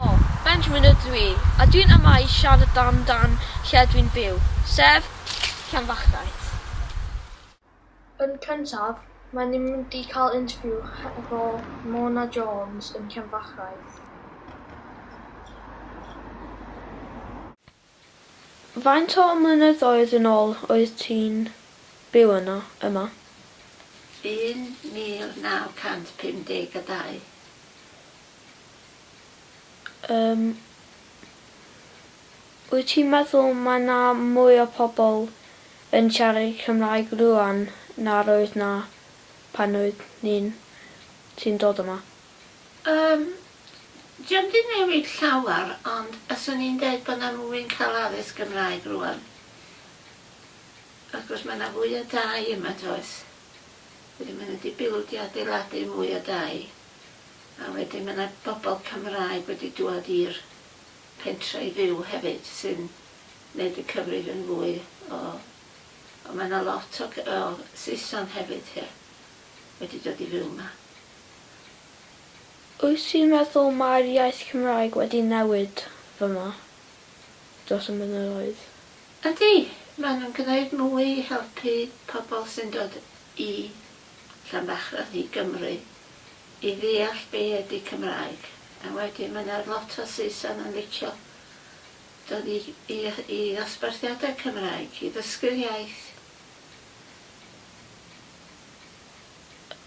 O, Benjamin ydw i, a dwi'n amau siarad am dan lle dwi'n byw, sef Llanfachnant. Yn cyntaf, mae ni'n mynd i cael interview hefo Mona Jones yn Llanfachnant. Faint o flynyddoedd yn ol oedd ti'n byw yno, yma? 1952. Yym. Wyt ti'n meddwl mae 'na mwy o pobl yn siarad Cymraeg rŵan na'r oedd 'na pan oeddwn i'n ti'n dod yma? Yym, dio'm di newid llawar ond fyswn i'n deud bod na fwy'n cael addysg Gymraeg rŵan. Wrth gwrs mae na fwy o dai yma does? Wedyn mae nhw di bildio adeiladu mwy o dai a wedyn mae na bobl Cymraeg wedi dŵad i'r pentre i fyw hefyd sy'n neud y cyfrif yn fwy o o mae na lot o o Saeson hefyd ie. wedi dod i fyw yma. Wyt ti'n meddwl mae'r iaith Cymraeg wedi newid fama dros y mynyddoedd? Ydy, maen nhw'n gwneud mwy i helpu pobl sy'n dod i Llanbachrad, i Gymru, i ddeall be ydy Cymraeg. A wedyn mae yna lot o Saeson yn licio dod i i i ddosbarthiadau Cymraeg, i ddysgu'r iaith.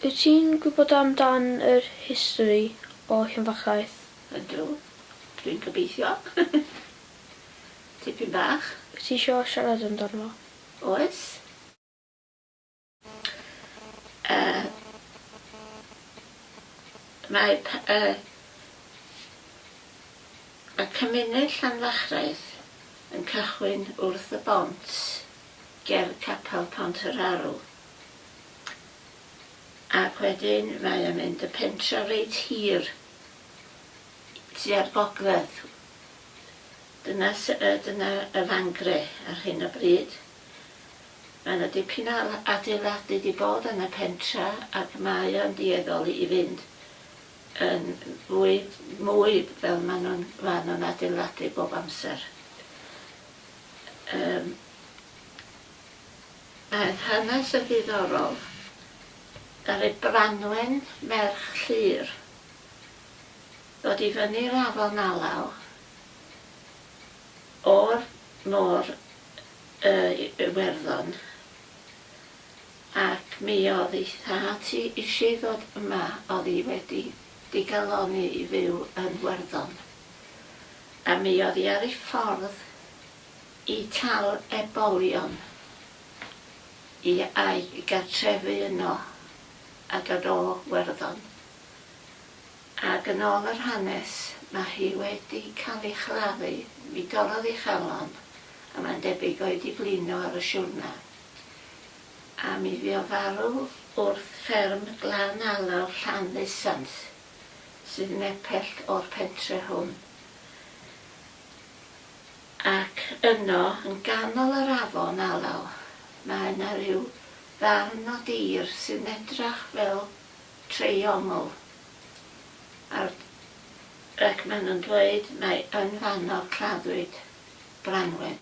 Wyt ti'n gwybod am dan yr history o Llanfachaeth? Ydw. Dwi'n gobeithio. Tipyn bach. Wyt ti isio siarad amdano fo? Oes. Yy mae pa- yy mae cymuned Llanfachraeth yn cychwyn wrth y bont. ger Capel Pont yr Arw ac wedyn mae o'n mynd y pentra reit hir tua'r gogledd. Dyna sy- yy dyna y fangre ar hyn o bryd. Mae 'na dipyn o adeiladu 'di bod yn y pentra ac mae o'n dueddol i fynd yn fwy mwy fel ma' nw'n ma' nw'n adeiladu bob amser. Yym. Aeth hanes yn ddiddorol. Ddaru Branwen, merch Llyr, ddod i fyny i'r afon alaw o'r môr y i Iwerddon ac mi o'dd i thad hi isie i ddod yma, o'dd hi wedi digalonni i fyw yn Werddon. a mi oedd hi ar ei ffordd i tal ebolion i a'i gartrefu yno a dod o Werddon. Ag yn ôl yr hanes, mae hi wedi cael ei chladdu, mi dorrodd ei chalon a mae'n debyg o'i di blino ar y siwrna, a mi fu o farw wrth fferm Glan Alaw, Llanddusant. sydd nepell o'r pentre hwn, ac yno, yn ganol yr afon alaw, mae 'na ryw ddarn o dir sy'n edrach fel treiongl, a'r, ac maen nhw'n dweud mai yn fanno claddwyd Branwen.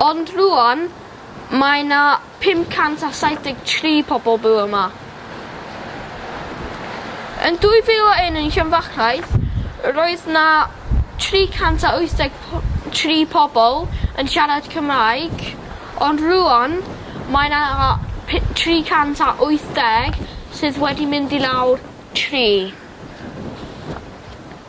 Ond rŵan mae 'na 573 pobl byw yma. Yn 2001 yn Llanfachraidd roedd 'na 383 pobl yn siarad Cymraeg ond rŵan mae 'na pi- 380 sydd wedi mynd i lawr tri.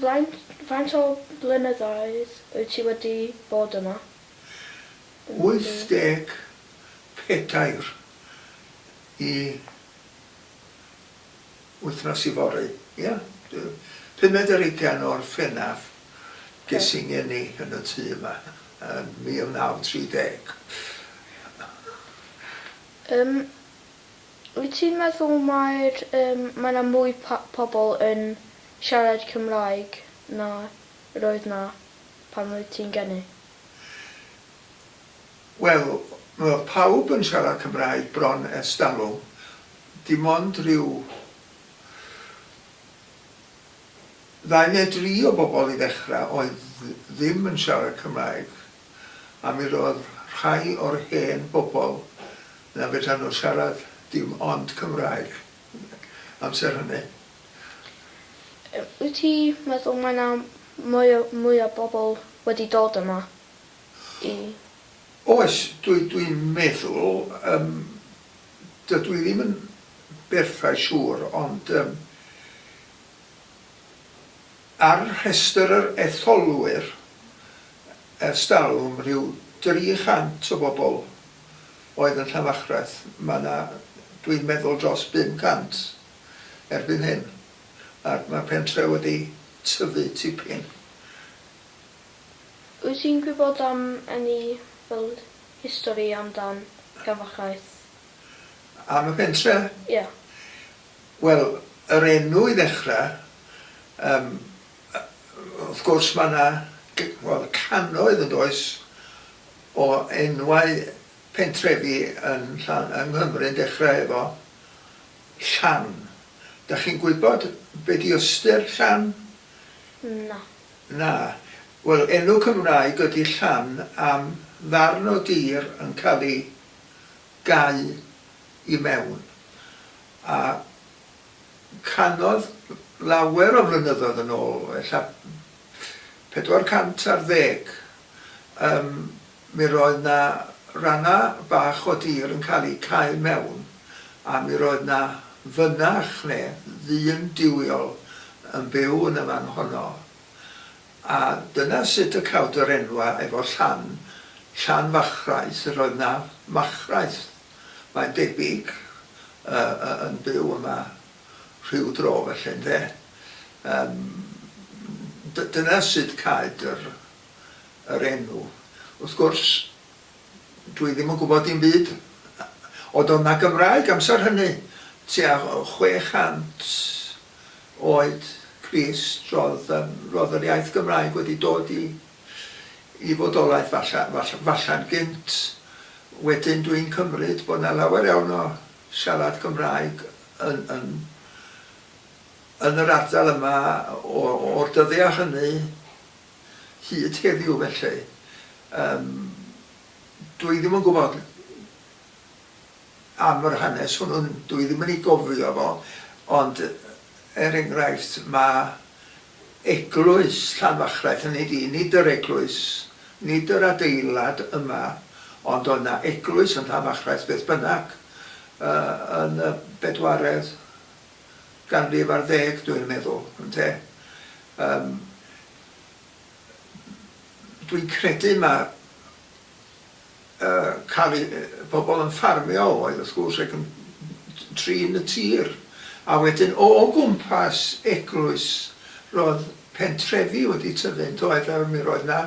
Faint faint o blynyddoedd wyt ti wedi bod yma? 84 i wythnos yfory ia dw- pumed ar ugain o Orffennaf ges i ngeni yn y tŷ yma yn 1930. Yym Wyt ti'n meddwl mae'r yym mae 'na mwy pa- pobl yn siarad Cymraeg na yr oedd 'na pan oedd ti'n geni? Wel, mae pawb yn siarad Cymraeg bron ers talwm, dim ond rhyw ddau neu dri o bobl i ddechrau oedd ddim yn siarad Cymraeg. a mi roedd rhai o'r hen bobl na fedran nhw siarad dim ond Cymraeg amser hynny. Wyt ti meddwl mae na mwy o mwy o bobl wedi dod yma i... Oes, dwi dwi'n meddwl yym dydw i ddim yn berffaith siŵr ond yym Ar rhestr yr etholwyr ers talwm, rhyw 300 o bobl oedd yn Llanfachreth, mae 'na dwi'n meddwl dros 500 erbyn hyn, ac mae'r pentre wedi tyfu tipyn. Wyt ti'n gwybod am any fel history amdan Llanfachreth? Am y pentre? Ie. Wel, yr enw i ddechrau, yym, wrth gwrs mae yna, wel, cannoedd yn does, o enwau pentrefi yn Llan- yng Nghymru yn dechrau efo Llan. Dach chi'n gwybod be di ystyr Llan? Na. Na. Wel, enw Cymraeg ydi Llan am ddarn o dir yn cael ei gau i mewn, a canodd lawer o flynyddoedd yn ôl, ella 400 ar ddeg, yym, mi roedd 'na ranna' bach o dir yn cael eu cau mewn, a mi roedd 'na fynach, neu ddyn duwiol yn byw yn y man honno. A dyna sut y cawd yr enwa efo Llan, Llan Fachraeth, yr oedd na fachraeth, mae'n debyg, yn byw yma rhyw dro felly, ynde? Yym, dyna sut caed yr enw. Wrth gwrs, dwi ddim yn gwybod dim byd. Odd o' na Gymraeg amser hynny, tua chwe chant oed Chris ro'dd yym ro'dd yr iaith Gymraeg wedi dod i i fodolaeth falla falla falla'n gynt, wedyn dwi'n cymryd bod 'na lawer iawn o siarad Cymraeg yn yn yn yr ardal yma o o'r dyddia' hynny hyd heddiw felly yym dwi ddim yn gwbod. am yr hanes hwnnw, dwi ddim yn ei gofio fo, ond er enghraifft mae eglwys Llanfachlaeth, hynny ydi, nid yr eglwys, nid yr adeilad yma, ond oedd 'na eglwys yn Llanfachlaeth beth bynnag yn y bedwaredd ganrif ar ddeg dwi'n meddwl, ynte. Yym dwi'n credu mae cael eu pobl yn ffarmio oedd wrth gwrs ac yn trin y tir a wedyn o gwmpas eglwys roedd pentrefi wedi tyfu yn doedd a mi roedd na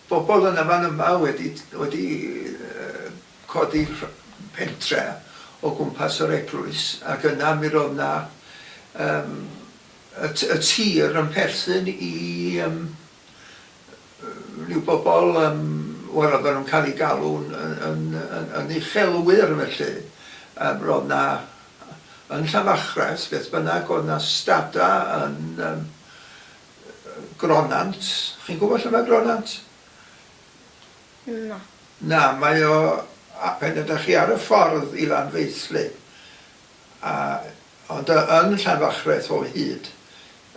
bobl yn y fan yma wedi wedi codi pentre o gwmpas yr eglwys ac yna mi roedd na yym y tir yn perthyn i ryw bobl yym wel oedden nhw'n cael eu galw'n yn yn yn uchelwyr felly yym roedd 'na yn Llanfachrest beth bynnag oedd 'na stada yn yym Gronant, chi'n gwybod lle mae Gronant? Na. Na, mae o a- pan ydych chi ar y ffordd i Lanfeilltu A, ond y, yn Llanfachreth o hyd,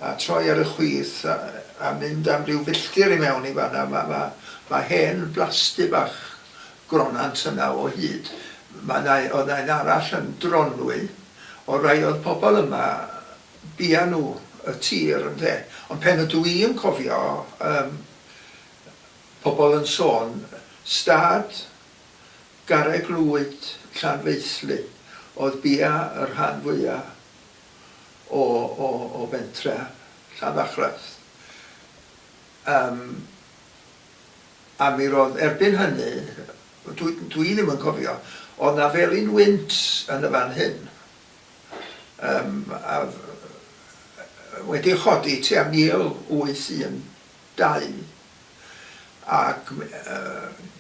a troi ar y chwith a, a mynd am ryw filltir i mewn i fan'na, ma', ma', ma' hen blasty bach Gronant yna o hyd. Ma' 'na, oedd 'na un arall yn Dronwy, o rai oedd pobl yma, bia nhw y tir, ynde. Ond pen ydw i'n cofio, yym, pobl yn sôn, stad, Garreg Lwyd, Llanfeilldy, oedd bia y rhan fwya o o o fentre Llanfachreth. Yym a mi ro'dd erbyn hynny, dwi dwi ddim yn cofio, o'dd 'na felin wynt yn y fan hyn yym a f- yy wedi chodi tua 1800. Dain. Ac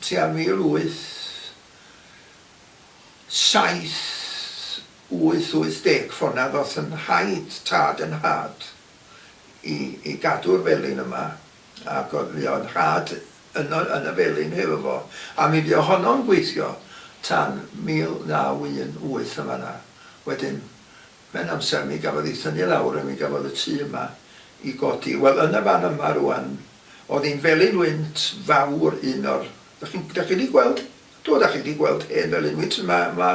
tua 1878-80 ffonad os yn rhaid tad yn nhad i gadw'r felin yma, ac oedd fuodd nhad yn y felin hefo fo, a mi fuodd honno'n gweithio tan 1918 yn fan'na. Wedyn Mae'n amser mi gafodd i thynnu lawr a mi gafodd y tŷ yma i godi. Wel, yn y fan yma rŵan, o'dd hi'n felin wynt fawr, un o'r... Dach chi'n... Dach chi 'di gweld? Do, dach chi 'di gweld hen felin wynt yma, ma',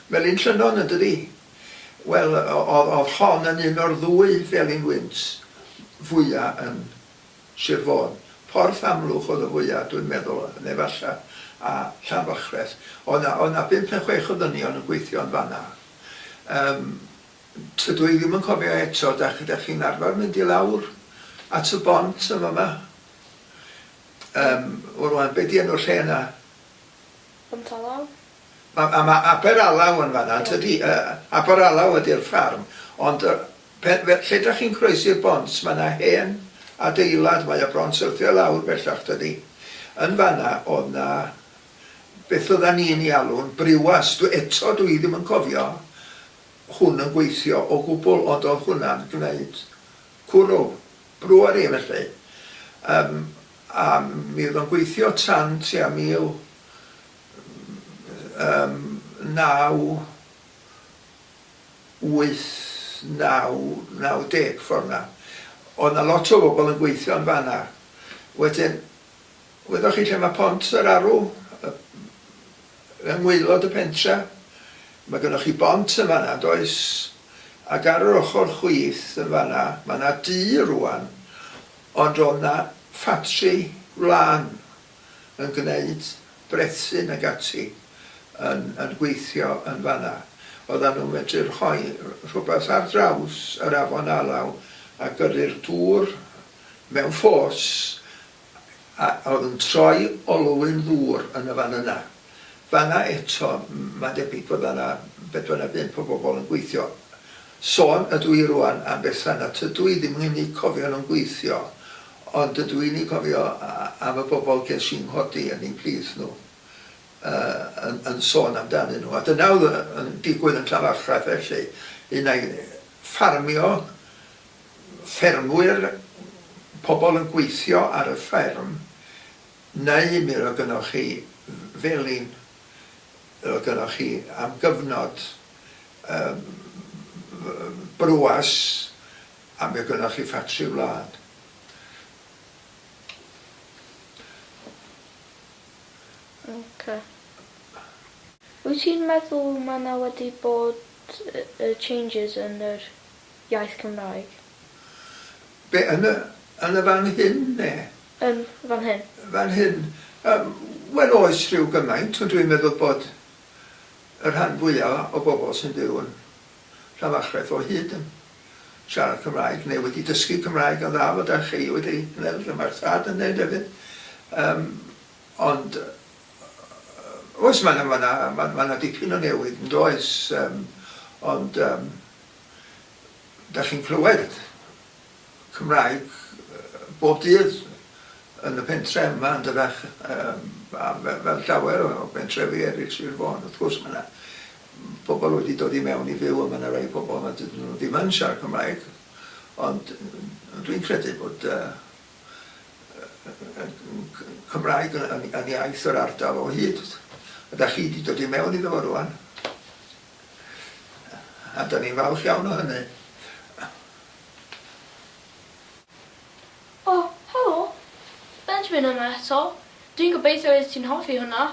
Melin Llynnon yndydi? Wel, o'dd o'dd hon yn un o'r ddwy felin wynt fwya' yn Sir Fôn. Porth Amlwch o'dd y fwya', dwi'n meddwl, ne' falla, a Llanfachreth. O'dd 'na, o'dd 'na bump ne' chwech o ddynion yn gweithio yn fan 'na. Yym, tydw i ddim yn cofio eto, da- dach chi'n arfer mynd i lawr at y bont yn fama? Yym, wel rŵan, be' 'di enw'r lle yna? Pont Alaw? Ma- a ma' Aber Alaw yn fan'na yntydi? Yy Aber Alaw ydi'r ffarm, ond yy pe- fe- lle dach chi'n croesi'r bont ma' 'na hen adeilad, mae o bron syrthio lawr bellach dydi? Yn fan'na o'dd 'na beth oeddan ni'n ei alw'n briwas, dw- eto dw i ddim yn cofio hwn yn gweithio o gwbl ond oedd hwnna'n gneud cwrw, brewery felly. Yym a mi oedd o'n gweithio tan tua 1989, 90 ffor 'na. Oedd 'na lot o bobl yn gweithio yn fan'na. Wedyn Gwyddoch chi lle mae Pont yr Arw? Yng ngwaelod y pentre'. Mae gynnoch chi bont yn fan'na, does? Ac ar yr ochr chwith yn fan'na, mae 'na dŷ rŵan, ond ro'dd 'na ffatri wlân yn gneud brethyn ag ati yn yn gweithio yn fan'na. Oeddan nhw'n medru rhoi rhywbeth ar draws yr afon Alaw a gyrru'r dŵr mewn ffos a oedd yn troi olwyn ddŵr yn y fan yna. Fan'na eto, mae'n debyg fod yna bedwar neu bump o bobl yn gweithio. Sôn ydw i rŵan am bethau nad ydw i ddim yn eu cofio nhw'n gweithio, ond dydw i'n eu cofio am y bobl ges i'n nghodi yn eu plith nhw yn sôn amdanyn nhw. A dyna oedd yn digwydd yn Llanfairpwll felly, un ai ffarmio ffermwyr, pobl yn gweithio ar y fferm, neu mi roedd gynnoch chi felin, roedd gynnoch chi am gyfnod brwwas a mi oedd gynnoch chi ffatri wlad. Ok. Wyt ti'n meddwl mae 'na wedi bod changes yn yr iaith Cymraeg. Be, yn y, yn y fan hyn, ne? Yn fan hyn. Fan hyn. Yym, wel oes, rhyw gymaint, ond dwi'n meddwl bod y rhan fwya o bobl sy'n byw yn Llanfachreth o hyd yn siarad Cymraeg, neu wedi dysgu Cymraeg yn dda, fel dach chi wedi gwneud, fel mae'r tad yn wneud hefyd. Yym, ond, oes, mae 'na, mae 'na, mae 'na dipyn o newid, yn does? Yym, ond, yym, Dach chi'n clywed Cymraeg bob dydd yn y pentre yma yn Dyfech a fel llawer o bentrefi eraill Sir Fôn wrth gwrs mae 'na pobl wedi dod i mewn i fyw a mae 'na rai pobl nad ydyn nhw ddim yn siarad Cymraeg ond dwi'n credu bod Cymraeg yn iaith yr ardal o hyd a dach chi 'di dod i mewn iddo fo rŵan. A dan ni'n falch iawn o hynny. O, helo! Benjamin yma eto. Dwi'n gobeithio oeddet ti'n hoffi hwnna.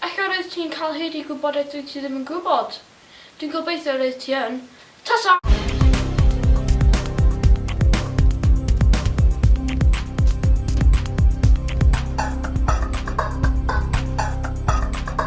Ella roeddet ti'n cael hyd i gwybodaeth dwyt ti ddim yn gwybod. Dwi'n gobeithio roeddet ti yn. Ta-ta!